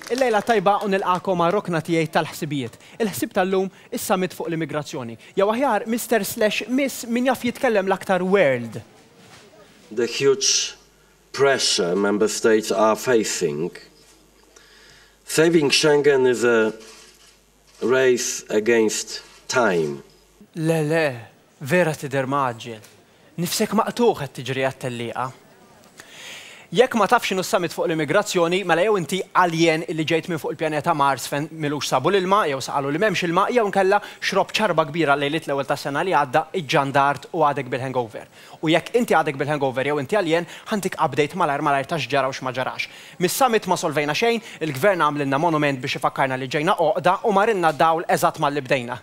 Il-lejla t-tajba u nilqagħkom għar-rokna tiegħi tal-ħsibijiet. Il-ħsieb tal-lum, is-Summit fuq l-Immigrazzjoni. Jew aħjar, Mister Slash Miss min jaf jitkellem l-aktar World. The huge pressure Member States are facing, saving Schengen is a Race against time. Le le, vera tidher mgħaġġel. Nifsek maqtugħ qed tiġri għat-tellieqa. Jekk ma tafx x'inhu s-summit fuq l-immigrazzjoni, mela jew inti alien illi ġejt minn fuq il-pjaneta Mars fejn m'ilux sabu l-ilma jew saqalu li m'hemmx ilma jew inkella xrobt xarba kbira lejliet l-ewwel tas-sena li għadda, iġġandart u għadek bil-hangover. U jekk inti għadek bil-hangover jew inti għaljen, ħa ntik update malajr malajr ta' x'ġara u x'ma ġarax. Mis-summit ma solvejna xejn, il-Gvern għamlilna monument biex ifakkarna li ġejna għoqda u marilna d-dawl eżatt malli bdejna.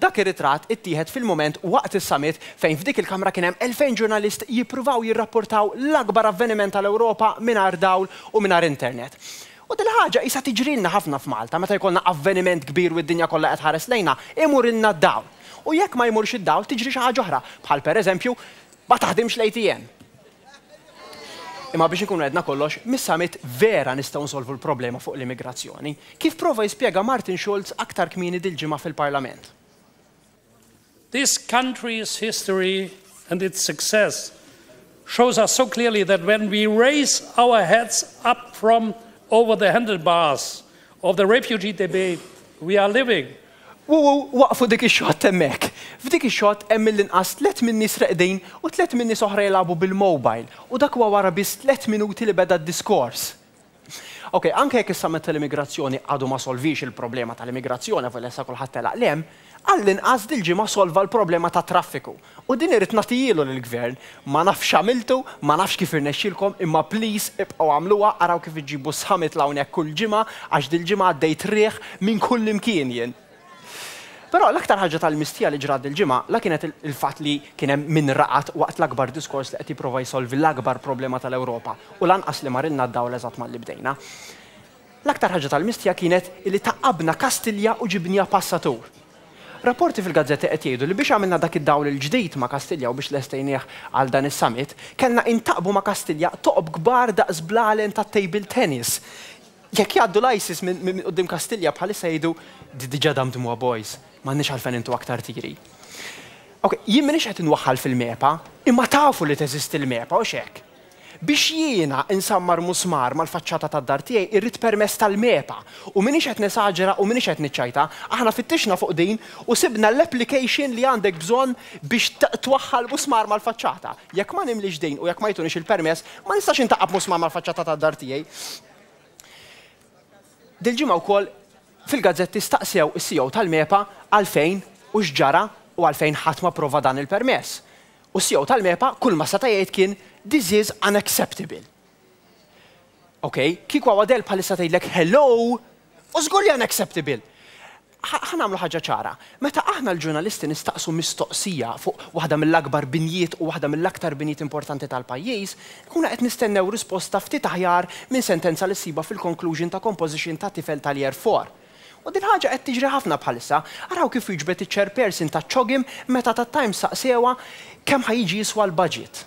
Dak ir-ritratt ittieħed fil-mument waqt is-summit fejn f'dik il-kamra kien hemm elfejn ġurnalist jippruvaw jirrapportaw l-akbar avveniment tal-Ewropa mingħajr dawl u mingħajr internet. U dil-ħaġa qisha tiġrilna ħafna f'Malta, meta jkollna avveniment kbir u d-dinja kollha qed tħares lejna, imurilna d-dawl. U jekk ma jmurx id-dawl, tiġri xi ħaġa oħra, bħal pereżempju, ma taħdimx l-ATM. Imma biex inkunu għedna kollox, mis-summit vera nistgħu nsolvu l-problema fuq l-immigrazzjoni, kif prova jispjega Martin Schulz aktar kmieni dil-ġimgħa fil-Parlament. This country's history and its success shows us so clearly that when we raise our heads up from over the handlebars of the refugee debate we are living. Wuu, waqfu dik ix-xott hemmhekk. F'dik ix-xott hemm mill-inqas tliet min-nies reqdin u tliet min-nies oħra jilgħabu bil-mobile u dak huwa wara biss tliet minuti li beda d-diskors. Ok, anke jekk is-Summit tal-Immigrazzjoni għadu ma solviex il-problema tal-immigrazzjoni avolja issa kulħadd telaq l-hemm, għall-inqas dil-ġimgħa solva l-problema tat-traffiku. U din irrid nagħtihielu lill-Gvern, ma nafx x'għamiltu, ma nafx kif irnexxielkom, imma please ibqgħu għamluha, araw kif iġġibu s-Summit 'l hawn hekk kull ġimgħa, għax dil-ġimgħa għaddejt riħ minn kullimkien jien. Però l-aktar ħaġa tal-mistija li ġrat dil-ġimgħa la kienet il-fatt li kien hemm min raqad waqt l-akbar diskors li qed jipprova jsolvi l-akbar problema tal-Ewropa u lanqas li marilna d-dawl eżatt malli bdejna. L-aktar ħaġa tal-mistija kienet li tgħaqqabna Kastilja u ġibniha passatur. Rapporti fil-gazzetti qed jgħidu li biex għamilna dak id-dawl il-ġdid ma' Kastilja u biex lestejnieh għal dan is-summit, kellna intgħaqqbu ma' Kastilja toqob kbar daqs blalen tat-table tennis. Jekk jgħaddu l-ISIS minn quddiem Kastilja bħalissa jgħidu, diġa' damdmuha boys, m'għandniex għalfejn intu aktar tiri. Ok, jien m'iniex qed inwaħħal fil-MEPA, imma tafu li teżisti l-MEPA, hux hekk? Biex jiena insammar musmar mal-faċċata tad-dar tiegħi irrid permess tal-MEPA. U m'iniex qed nesaġera u m'iniex qed niċċajta, aħna fittixna fuq din u sibna l-application li għandek bżonn biex twaħħal musmar mal-faċċata. Jekk ma nimlix din u jekk ma jtuniex il-permess, ma nistax intaqqa' b'musmar mal-faċċata tad-dar tiegħi. Dil-ġimgħa wkoll fil-gazzetti staqsew is-CEO tal-MEPA għalfejn u x'ġara u għalfejn ħadd ma pprova dan il-permess. U s-CEO tal-MEPA kull ma seta' jgħid kien This is unacceptable. Ok, kieku hawn Adele bħalissa tgħidlek Hello! U żgur li unacceptable. Ħa nagħmlu ħaġa ċara, meta aħna l-ġurnalisti nistaqsu mistoqsija fuq waħda mill-akbar binjiet u waħda mill-aktar binjiet importanti tal-pajjiż, inkunu qed nistennew risposta ftit aħjar minn sentenza li ssibha fil-conclusion ta' composition ta' tifel tal-Year Four. U din ħaġa qed tiġri ħafna bħalissa. Araw kif wieġbet iċ-Chairperson taċ-CHOGM meta tat-Times saqsewha kemm ħa jiġi jiswa l-budget.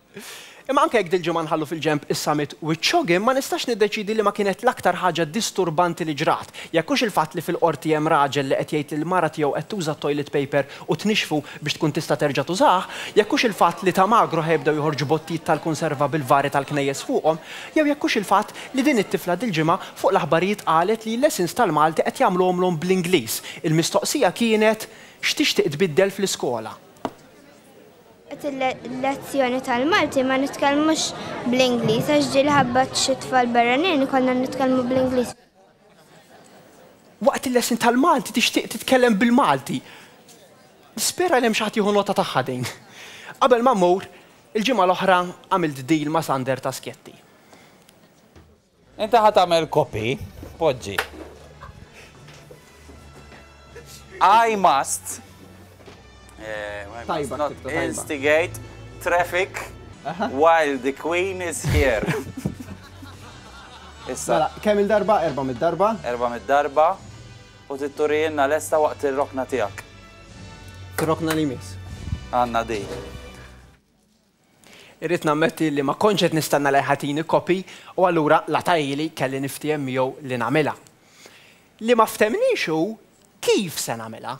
Imma anke jekk dil-ġimgħa nħallu fil-ġenb is-summit wiċċogħin, ma nistax niddeċiedi liema kienet l-aktar ħaġa disturbanti li ġrat. Jekk hux il-fatt li fil-Qorti hemm raġel li qed jgħid li l-mara tiegħu qed tuża t-toilet paper u tnixxfu biex tkun tista' terġa' tużah, jekk hux il-fatt li ta' Magro ħa jibdew joħorġu bottijiet tal-kunserva bil-vari tal-knejjes fuqhom, jew jekk hux il-fatt li din it-tifla dil-ġimgħa fuq l-aħbarijiet qalet li l-lessons tal-Malti qed jagħmluhomlhom bl-Ingliż, il-mistoqsija kienet, x'tixtieq tbiddel fl-iskola? Waqt il-lezzjoni tal-Malti ma nitkellmux bl-Ingliż għax ġieli ħabba xi tfal barranin konna nitkellmu bl-Ingliż. Waqt il-lesson tal-Malti tixtieq titkellem bil-Malti. Nispera li hemm xi ħadd jieħu nota tagħha din. Qabel ma mmur, il-ġimgħa l-oħra għamilt deal ma' Sander ta' Skjetti. Inti ħa tagħmel copy, poġġi I must instigate traffic while the queen is here. Issa. Mela, kemm il-darba? Erba' mid-darba? Erba' mid-darba u titturijinna lesta waqt ir-rokna tiegħek. Rokna li miss. Għandna di. Irrid nammetti li ma kontx qed nistenna li jħatini copy u allura la ta ili kelli niftiehem miegħu li nagħmilha. Li ma ftehmniex hu kif se nagħmilha.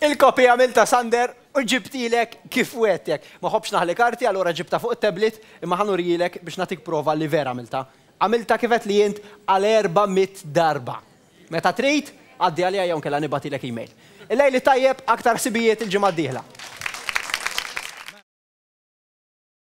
Il-kopji għamiltha Sander u ġibtilek kif wegħdtek. Ma ħobbx naħli karti allura ġibtha fuq it-tablet imma ħa nurihielek biex nagħtik prova li vera għamiltha. Għamiltha kif għedtli int għal erba' mitt darba. Meta trid, għaddi għalija jew inkella nibgħatilek email. Il-lejl it-tajjeb, aktar ħsibijiet il-ġimgħa d-dieħla.